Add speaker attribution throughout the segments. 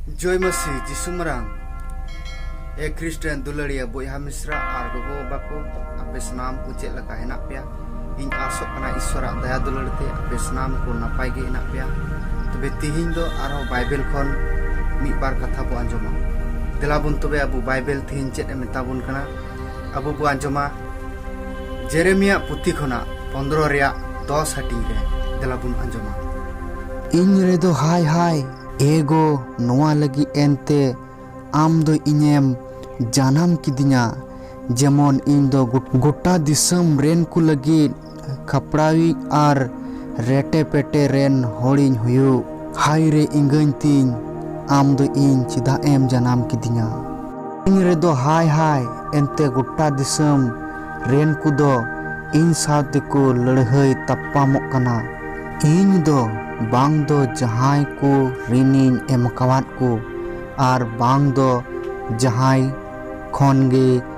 Speaker 1: ᱡᱚᱭ ᱢᱟᱹᱥᱤ ᱡᱤᱥᱩ ᱢᱟᱨᱟᱝ ᱮ ᱠᱷᱨᱤᱥᱴᱟᱱ ᱫᱩᱞᱟᱹᱲᱤᱭᱟᱹ ᱵᱚᱭᱦᱟ ᱢᱤᱥᱨᱟ ᱟᱨ ᱜᱚᱜᱚ ᱵᱟᱵᱟ ᱠᱚ ᱟᱯᱮ ᱥᱟᱱᱟᱢ ᱠᱚ ᱪᱮᱫ ᱞᱮᱠᱟ ᱦᱮᱱᱟᱜ ᱯᱮᱭᱟ ᱤᱧ ᱟᱥᱚᱜ ᱠᱟᱱᱟ ᱤᱥᱣᱚᱨᱟᱜ ᱫᱟᱭᱟ ᱫᱩᱞᱟᱹᱲ ᱛᱮ ᱟᱯᱮ ᱥᱟᱱᱟᱢ ᱠᱚ ᱱᱟᱯᱟᱭ ᱜᱮ ᱦᱮᱱᱟᱜ ᱯᱮᱭᱟ ᱛᱚᱵᱮ ᱛᱤᱦᱤᱧ ᱫᱚ ᱟᱨᱦᱚᱸ ᱵᱟᱭᱵᱮᱞ ᱠᱷᱚᱱ ᱢᱤᱫ ᱵᱟᱨ ᱠᱟᱛᱷᱟ ᱵᱚ ᱟᱸᱡᱚᱢᱟ ᱫᱮᱞᱟ ᱵᱚᱱ ᱛᱚᱵᱮ ᱟᱵᱚ ᱵᱟᱭᱵᱮᱞ ᱛᱤᱦᱤᱧ ᱪᱮᱫ ᱮ ᱢᱮᱛᱟ ᱵᱚᱱ ᱠᱟᱱᱟ ᱟᱵᱚ ᱵᱚ ᱟᱸᱡᱚᱢᱟ ᱡᱮᱨᱮᱢᱤᱭᱟ ᱯᱩᱛᱷᱤ ᱠᱷᱚᱱᱟᱜ ᱯᱚᱱᱫᱨᱚ ᱨᱮᱭᱟᱜ ᱫᱚᱥ ᱦᱟᱹᱴᱤᱧ ᱨᱮ ᱫᱮᱞᱟ ᱵᱚᱱ ᱟᱸᱡᱚᱢᱟ ᱤᱧ
Speaker 2: ᱨᱮᱫᱚ ᱦᱟᱭ ᱦᱟᱭ ᱮᱜᱚ ᱱᱚᱣᱟ ᱞᱟᱹᱜᱤᱫ ᱮᱱᱛᱮ ᱟᱢ ᱫᱚ ᱤᱧᱮᱢ ᱡᱟᱱᱟᱢ ᱠᱤᱫᱤᱧᱟ ᱡᱮᱢᱚᱱ ᱤᱧ ᱫᱚ ᱜᱚᱴᱟ ᱫᱤᱥᱚᱢ ᱨᱮᱱ ᱠᱚ ᱞᱟᱹᱜᱤᱫ ᱠᱷᱟᱯᱲᱟᱣᱤᱡ ᱟᱨ ᱨᱮᱴᱮ ᱯᱮᱴᱮ ᱨᱮᱱ ᱦᱚᱲᱤᱧ ᱦᱩᱭᱩᱜ᱾ ᱦᱟᱭ ᱨᱮ ᱮᱸᱜᱟᱹᱧ ᱛᱤᱧ ᱟᱢ ᱫᱚ ᱤᱧ ᱪᱮᱫᱟᱜ ᱮᱢ ᱡᱟᱱᱟᱢ ᱠᱤᱫᱤᱧᱟ᱾ ᱤᱧ ᱨᱮᱫᱚ ᱦᱟᱭ ᱦᱟᱭ ᱮᱱᱛᱮ ᱜᱚᱴᱟ ᱫᱤᱥᱟᱹᱢ ᱨᱮᱱ ᱠᱚ ᱫᱚ ᱤᱧ ᱥᱟᱶ ᱛᱮ ᱠᱚ ᱞᱟᱹᱲᱦᱟᱹᱭ ᱛᱟᱯᱟᱢᱚᱜ ᱠᱟᱱᱟ᱾ ᱤᱧ ᱫᱚ ᱵᱟᱝ ᱫᱚ ᱡᱟᱦᱟᱸᱭ ᱠᱚ ᱨᱤᱱᱤᱧ ᱮᱢᱟᱠᱟᱣᱟᱫ ᱠᱚ ᱟᱨ ᱵᱟᱝ ᱫᱚ ᱡᱟᱦᱟᱸᱭ ᱠᱷᱚᱱ ᱜᱮ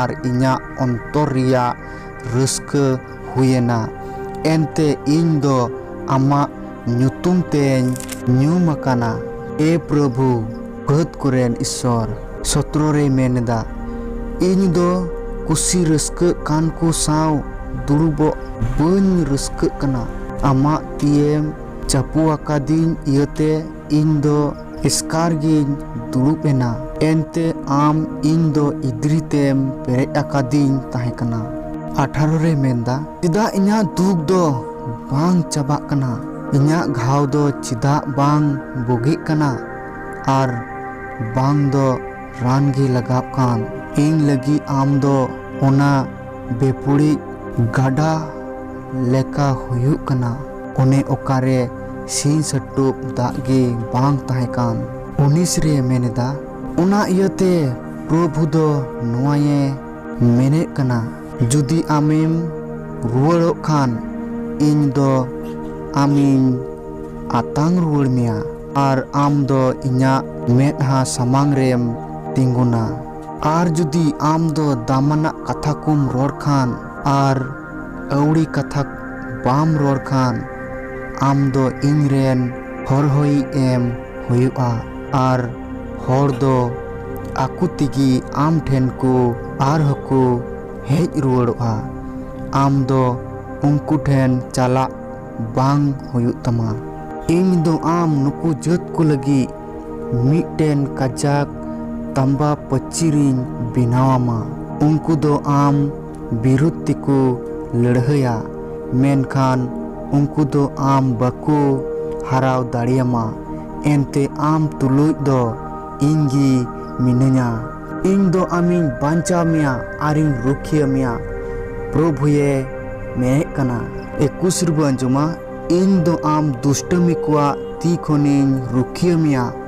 Speaker 2: ᱟᱨ ᱤᱧᱟᱜ ᱚᱱᱛᱚᱨ ᱨᱮᱭᱟᱜ ᱨᱟᱹᱥᱠᱟᱹ ᱦᱩᱭᱮᱱᱟ᱾ ᱮᱱᱛᱮ ᱤᱧ ᱫᱚ ᱟᱢᱟᱜ ᱧᱩᱛᱩᱢ ᱛᱮᱧ ᱧᱩᱢ ᱟᱠᱟᱱᱟ᱾ ᱮ ᱯᱨᱚᱵᱷᱩ, ᱯᱷᱟᱹᱫᱽ ᱠᱚᱨᱮᱱ ᱤᱥᱚᱨ᱾ ᱥᱚᱛᱨᱚ ᱨᱮᱭ ᱢᱮᱱ ᱮᱫᱟ, ᱤᱧ ᱫᱚ ᱠᱩᱥᱤ ᱨᱟᱹᱥᱠᱟᱹᱜ ᱠᱟᱱ ᱠᱚ ᱥᱟᱶ ᱫᱩᱲᱩᱵᱚᱜ ᱵᱟᱹᱧ ᱨᱟᱹᱥᱠᱟᱹᱜ ᱠᱟᱱᱟ᱾ ᱟᱢᱟᱜ ᱛᱤᱭᱮᱢ ᱪᱟᱯᱚ ᱟᱠᱟᱫᱤᱧ ᱤᱭᱟᱹᱛᱮ ᱤᱧ ᱫᱚ᱾ ᱮᱥᱠᱟᱨ ᱜᱤᱧ ᱫᱩᱲᱩᱵ ᱮᱱᱟ᱾ ᱮᱱᱛᱮ ᱟᱢ ᱤᱧ ᱫᱚ ᱤᱫᱽᱨᱤ ᱛᱮᱢ ᱯᱮᱨᱮᱡ ᱟᱠᱟᱫᱤᱧ ᱛᱟᱦᱮᱸ ᱠᱟᱱᱟ᱾ ᱟᱴᱷᱟᱨᱚ ᱨᱮ ᱢᱮᱱᱫᱟ᱾ ᱪᱮᱫᱟᱜ ᱤᱧᱟᱜ ᱫᱩᱠ ᱫᱚ ᱵᱟᱝ ᱪᱟᱵᱟᱜ ᱠᱟᱱᱟ? ᱤᱧᱟᱜ ᱜᱷᱟᱣ ᱫᱚ ᱪᱮᱫᱟᱜ ᱵᱟᱝ ᱵᱩᱜᱤᱜ ᱠᱟᱱᱟ? ᱟᱨ ᱵᱟᱝ ᱫᱚ ᱨᱟᱱ ᱜᱮ ᱞᱟᱜᱟᱣᱜ ᱠᱟᱱ? ᱤᱧ ᱞᱟᱹᱜᱤᱫ ᱟᱢ ᱫᱚ ᱚᱱᱟ ᱵᱮᱯᱩᱲᱤᱡ ᱜᱟᱰᱟ ᱞᱮᱠᱟ ᱦᱩᱭᱩᱜ ᱠᱟᱱᱟ᱾ ᱚᱱᱮ ᱚᱠᱟᱨᱮ ᱥᱤᱧ ᱥᱟᱹᱴᱩᱵ ᱫᱟᱜ ᱜᱮ ᱵᱟᱝ ᱛᱟᱦᱮᱸ ᱠᱟᱱ ᱩᱱᱤᱥ ᱨᱮ ᱢᱮᱱ ᱮᱫᱟ ᱚᱱᱟ ᱤᱭᱟᱹᱛᱮ ᱯᱨᱚᱵᱷᱩ ᱫᱚ ᱱᱚᱣᱟᱭᱮ ᱢᱮᱱᱮᱫ ᱠᱟᱱᱟ ᱡᱩᱫᱤ ᱟᱢᱮᱢ ᱨᱩᱣᱟᱹᱲᱚᱜ ᱠᱷᱟᱱ ᱤᱧ ᱫᱚ ᱟᱢᱤᱧ ᱟᱛᱟᱝ ᱨᱩᱣᱟᱹᱲ ᱢᱮᱭᱟ ᱟᱨ ᱟᱢ ᱫᱚ ᱤᱧᱟᱹᱜ ᱢᱮᱫᱦᱟ ᱥᱟᱢᱟᱝ ᱨᱮᱢ ᱛᱤᱸᱜᱩᱱᱟ ᱟᱨ ᱡᱩᱫᱤ ᱟᱢ ᱫᱚ ᱫᱟᱢᱟᱱᱟᱜ ᱠᱟᱛᱷᱟ ᱠᱚᱢ ᱨᱚᱲ ᱠᱷᱟᱱ ᱟᱨ ᱟᱹᱣᱲᱤ ᱠᱟᱛᱷᱟ ᱵᱟᱢ ᱨᱚᱲ ᱠᱷᱟᱱ ᱟᱢ ᱫᱚ ᱤᱧ ᱨᱮᱱ ᱦᱚᱨᱦᱚᱭᱤᱡ ᱮᱢ ᱦᱩᱭᱩᱜᱼᱟ ᱟᱨ ᱦᱚᱲ ᱫᱚ ᱟᱠᱚ ᱛᱮᱜᱮ ᱟᱢ ᱴᱷᱮᱱ ᱠᱚ ᱟᱨ ᱦᱚᱸ ᱠᱚ ᱦᱮᱡ ᱨᱩᱣᱟᱹᱲᱚᱜᱼᱟ᱾ ᱟᱢ ᱫᱚ ᱩᱱᱠᱩ ᱴᱷᱮᱱ ᱪᱟᱞᱟᱜ ᱵᱟᱝ ᱦᱩᱭᱩᱜ ᱛᱟᱢᱟ᱾ ᱤᱧ ᱫᱚ ᱟᱢ ᱱᱩᱠᱩ ᱡᱟᱹᱛ ᱠᱚ ᱞᱟᱹᱜᱤᱫ ᱢᱤᱫᱴᱮᱱ ᱠᱟᱡᱟᱠ ᱛᱟᱸᱵᱟ ᱯᱟᱹᱪᱤᱨᱤᱧ ᱵᱮᱱᱟᱣ ᱟᱢᱟ᱾ ᱩᱱᱠᱩ ᱫᱚ ᱟᱢ ᱵᱤᱨᱩᱫᱷ ᱛᱮᱠᱚ ᱞᱟᱹᱲᱦᱟᱹᱭᱟ ᱢᱮᱱᱠᱷᱟᱱ ᱩᱱᱠᱩ ᱫᱚ ᱟᱢ ᱵᱟᱠᱚ ᱦᱟᱨᱟᱣ ᱫᱟᱲᱮᱭᱟᱢᱟ ᱮᱱᱛᱮ ᱟᱢ ᱛᱩᱞᱩᱡ ᱫᱚ ᱤᱧ ᱜᱮ ᱢᱤᱱᱟᱹᱧᱟ᱾ ᱤᱧ ᱫᱚ ᱟᱢᱤᱧ ᱵᱟᱧᱪᱟᱣ ᱢᱮᱭᱟ ᱟᱨᱤᱧ ᱨᱩᱠᱷᱤᱭᱟᱹ ᱢᱮᱭᱟ ᱯᱨᱚᱵᱷᱩᱭᱮ ᱢᱮᱱᱮᱫ ᱠᱟᱱᱟ᱾ ᱮ ᱠᱩᱥᱨᱵᱩ ᱟᱸᱡᱚᱢᱟ ᱤᱧ ᱫᱚ ᱟᱢ ᱫᱩᱥᱴᱟᱹᱢᱤ ᱠᱚᱣᱟᱜ ᱛᱤ ᱠᱷᱚᱱᱤᱧ ᱨᱩᱠᱷᱤᱭᱟᱹ ᱢᱮᱭᱟ᱾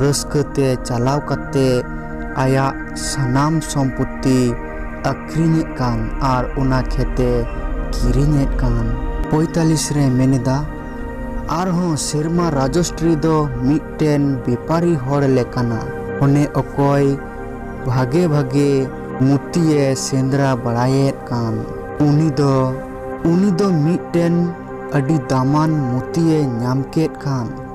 Speaker 2: ᱨᱟᱹᱥᱠᱟᱹ ᱛᱮ ᱪᱟᱞᱟᱣ ᱠᱟᱛᱮ ᱟᱭᱟᱜ ᱥᱟᱱᱟᱢ ᱥᱚᱢᱯᱚᱛᱛᱤ ᱟᱹᱠᱷᱨᱤᱧᱮᱫ ᱠᱟᱱ ᱟᱨ ᱚᱱᱟ ᱠᱷᱮᱛ ᱮ ᱠᱤᱨᱤᱧᱮᱫ ᱠᱟᱱ᱾ ᱯᱚᱸᱭᱛᱟᱞᱤᱥ ᱨᱮ ᱢᱮᱱᱮᱫᱟ, ᱟᱨᱦᱚᱸ ᱥᱮᱨᱢᱟ ᱨᱟᱡᱚᱥᱴᱨᱤ ᱫᱚ ᱢᱤᱫᱴᱮᱱ ᱵᱮᱯᱟᱨᱤ ᱦᱚᱲ ᱞᱮᱠᱟᱱᱟ᱾ ᱚᱱᱮ ᱚᱠᱚᱭ ᱵᱷᱟᱜᱮ ᱵᱷᱟᱜᱮ ᱢᱩᱨᱛᱤ ᱮ ᱥᱮᱸᱫᱽᱨᱟ ᱵᱟᱲᱟᱭᱮᱫ ᱠᱟᱱ᱾ ᱩᱱᱤ ᱫᱚ ᱩᱱᱤ ᱫᱚ ᱢᱤᱫᱴᱮᱱ ᱟᱹᱰᱤ ᱫᱟᱢᱟᱱ ᱢᱩᱨᱛᱤ ᱮ ᱧᱟᱢ ᱠᱮᱫ ᱠᱟᱱ᱾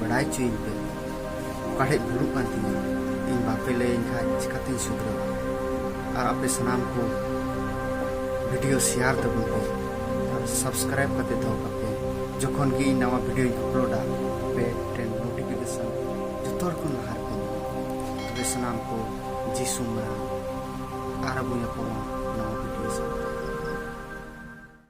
Speaker 1: ᱵᱟᱲᱟᱭ ᱦᱚᱪᱚᱭᱤᱧ ᱯᱮ ᱚᱠᱟ ᱴᱷᱮᱡ ᱵᱷᱩᱞᱩᱜ ᱠᱟᱱ ᱛᱤᱧᱟ ᱤᱧ ᱵᱟᱯᱮ ᱞᱟᱹᱭᱟᱹᱧ ᱠᱷᱟᱡ ᱪᱤᱠᱟᱛᱤᱧ ᱥᱩᱫᱷᱨᱟᱹᱣᱟ ᱟᱨ ᱟᱯᱮ ᱥᱟᱱᱟᱢ ᱠᱚ ᱵᱷᱤᱰᱤᱭᱳ ᱥᱮᱭᱟᱨ ᱛᱟᱵᱚᱱ ᱯᱮ ᱟᱨ ᱥᱟᱵᱥᱠᱨᱟᱭᱤᱵ ᱠᱟᱛᱮ ᱫᱚᱦᱚ ᱠᱟᱜ ᱯᱮ ᱡᱚᱠᱷᱚᱱ ᱜᱮ ᱤᱧ ᱱᱟᱣᱟ ᱵᱷᱤᱰᱤᱭᱳᱧ ᱟᱯᱞᱳᱰᱟ ᱟᱯᱮ ᱴᱷᱮᱱ ᱱᱳᱴᱤᱯᱷᱤᱠᱮᱥᱚᱱ ᱡᱚᱛᱚ ᱦᱚᱲ ᱠᱷᱚᱱ ᱞᱟᱦᱟ ᱨᱮᱯᱮ ᱧᱟᱢᱟ ᱛᱚᱵᱮ ᱥᱟᱱᱟᱢ ᱠᱚ ᱡᱤᱥᱩ ᱢᱟᱨᱟᱝ ᱟᱨ ᱟᱵᱚ ᱧᱟᱯᱟᱢᱟ ᱱᱟᱣᱟ ᱵᱷᱤᱰᱤᱭᱳ ᱥᱟᱶᱛᱮ